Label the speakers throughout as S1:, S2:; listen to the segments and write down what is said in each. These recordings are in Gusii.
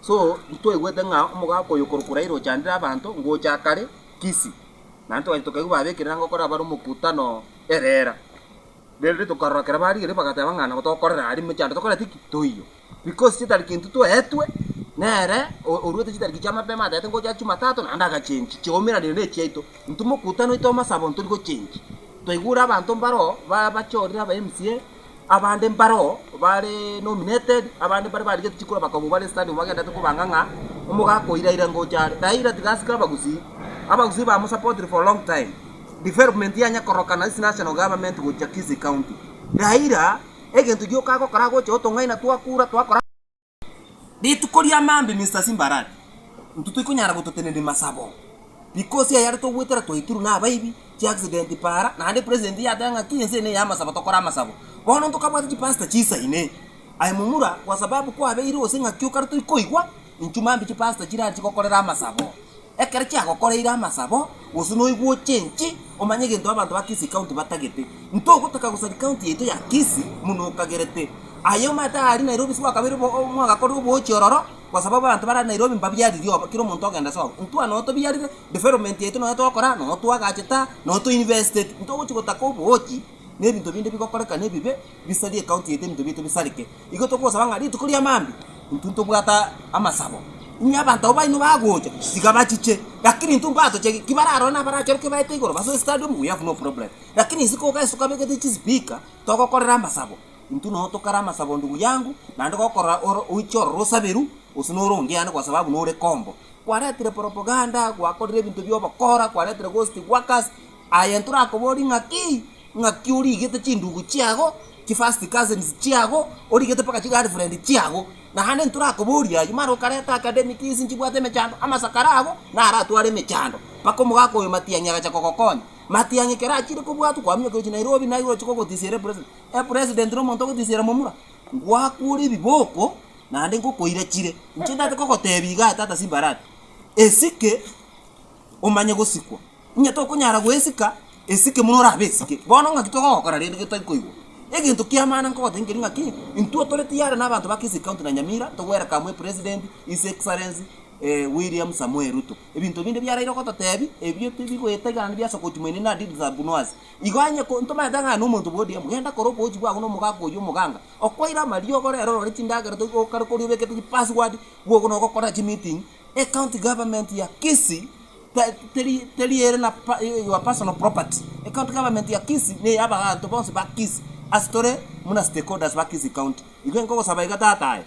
S1: So ntitwaigwete ng'a omogaka oyo okorokwa Raila ochandire abanto ngocha kare Kisii? Naende twagachia tokaigwa babekerire anga okora bare omokutano erera. Rende tokarora ekero barigereire bagateba ng'a nabo tokorera aria emechando tokoreti ki? Toiywe. Because chitariki intwe twaetwe nere oruete chitariki chia mapema ataete ngocha Jumatatu naende agachengi chiaumeraniire ne echiaito. Intwe mokutano oito omasabo ntori gochengi. Twaigure abanto mbaro babachorire aba MCA. Abande mbareo bare nominated, abande baria barigetie chikura bakabua bare stadium bagenderete kobanga ng'a omogaka o Iraira ngocha are. Raira tiga asike abagusii, abagusii ba musupportire for long time. Development yanya korokana ase national government gocha Kisii county. Raira egento gioka agokora agocha otong'aina twakura twakora. Rituko ria maambia Mister Simbarare, intwe toikonyara gototenena emasabo, because ayare togwetera twaitirwe na abaibi, chi accident paara, naende president yateba ng'a kila ense eye neye y'amasabo tokore amasabo. Bono ntokabwate chipastor chiisaine, aye momura kwa sababu kwabeire gose ng'aki okare toikoigwa, intwe maambia chipastor chirare chigokorera amasabo. Ekero chiagokoreire amasabo, gose noigwe ochenchi, omanye egento abanto ba Kisii County batagete. Ntogotaka gosaria county yaito ya Kisii buna okagerete. Aye omanyete aria Nairobi ase gwakabeire mwagakorire oboochi ororo, kwasababu abanto bare Nairobi mbabiariri obo, kera omonto ogenda ase obo. Intwe anoyo tobiarire, development yaito noyo togokora, noyo twagachete aa, noyo to invested. Ntogochi gotaka oboochi, na ebinto binde bigokorekana ebibe. bisarie ekaunti yaito ebinto biaito bisareke. Igo togosaba ng'a rituko ria maambia intwe ntobwate amasabo, inwe abanto aba baino bagocha tiga bachiche, lakini intwe mbatochegi, kibararore nabarachoroke baete igoro base stadium we have no problem, lakini isiko iga ase tokabegete chispeaker togokorera amasabo, intwe noo tokare amasabo ndugu yangu, naende gokorora oro oiche ororo osaberu gose noro onde yande gosaba abwo nore kombo. Kwaretire propaganda, gwakorire ebinto bia obokora, kwaretire ghost workers, aye ntorakoborie ng'akii. Ng'aki origete chindugu chiago, chifirst cousins chiago, origete mpaka chigirlfriend chiago. Naende ntorakoboria ayio, mara okareta academic fees nchibwate emechando, amasakara ago naratware emechando. Mpaka omogaka oyo Matiang'i agacha kogokonya. Matiang'i ekero achire kobwatwa kwaminyoka gochia Nairobi naigo ochi kogotisiera epresident. Epresident na omonto ogotisiera momura? Ngwakuure ebiboko naende ngokoirechire. Inche ndate kogotebia igaa tata simbarari. Esike. omanye gosikwa. Onye tokonyara goesika, esike buna orabe esike. Bono ng'aki togokora rende getari koigwa? Egento ki'amana nkogotebia nkeri ng'aki, intwe tore tiyari nabanto ba Kisii County na Nyamira togwerekamwe epresident His Excellency William Samoei Ruto. Ebinto binde biaraire gototebia, ebio tibigoeta iga naende biase gochi moino inee deeds are buna us. Igo onye ntomanyete ng'a aye nomonto bwa ODM, genda kora oboochi bwago na omogaka oyio omoganga, okwaire amariogo rero orore chindagera toigokare koria obekete chipassword, bwogo nogokorera chimeeting. Ecounty government ya Kisii teri ere na your personal property, ecounty government ya Kisii ne yabaganto bonsi ba Kisii ase tore buna stakeholders ba Kisii county. Igo inkogosaba iga tata aye,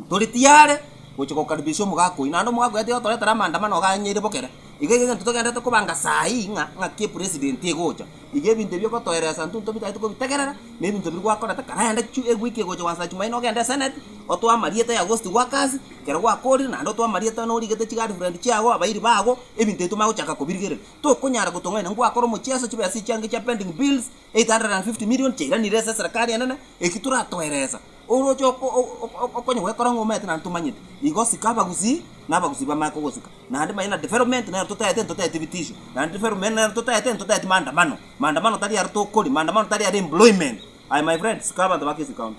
S1: tori tiyare gocha gokaribisha omogaka oyio, naende omogaka oyio atiga gotoretera amandamano iga anyeire bokere. Iga igo egento togenderete kobanga saa hii ng'a ng'aki epresident egocha. Iga ebinto ebi ogotoereesa intwe ntobitagete kobitegerera, na ebinto biria gwakorete karende chio egwiki egocha gwasacha chimaino ogende eseneti, otoo amarieta ya ghost gwa kasi, ekero gwakoorire, naende otoo amarieta norigete chigirlfriend chiago, abairi bago, ebinto ebi tomanye gochaka kobirigerera. Tokonyara gotong'aina ngwakora omochieso chibesa echiange chia pending bills 850 million chiairanire ase eserekari enene, eki toratoereesa. Oroche okonye gwekora ng'a omanyete naende tomanyeti, igo sika abagusii na abagusii bamanye kogosika. Naende manye na development nero totaete ntotaeti bitisho, naende development nero totaete ntotaeti maandamano. Maandamano tari aro tokori, maandamano tari aro employment. Aye my friend, sika abanto ba Kisukaunti.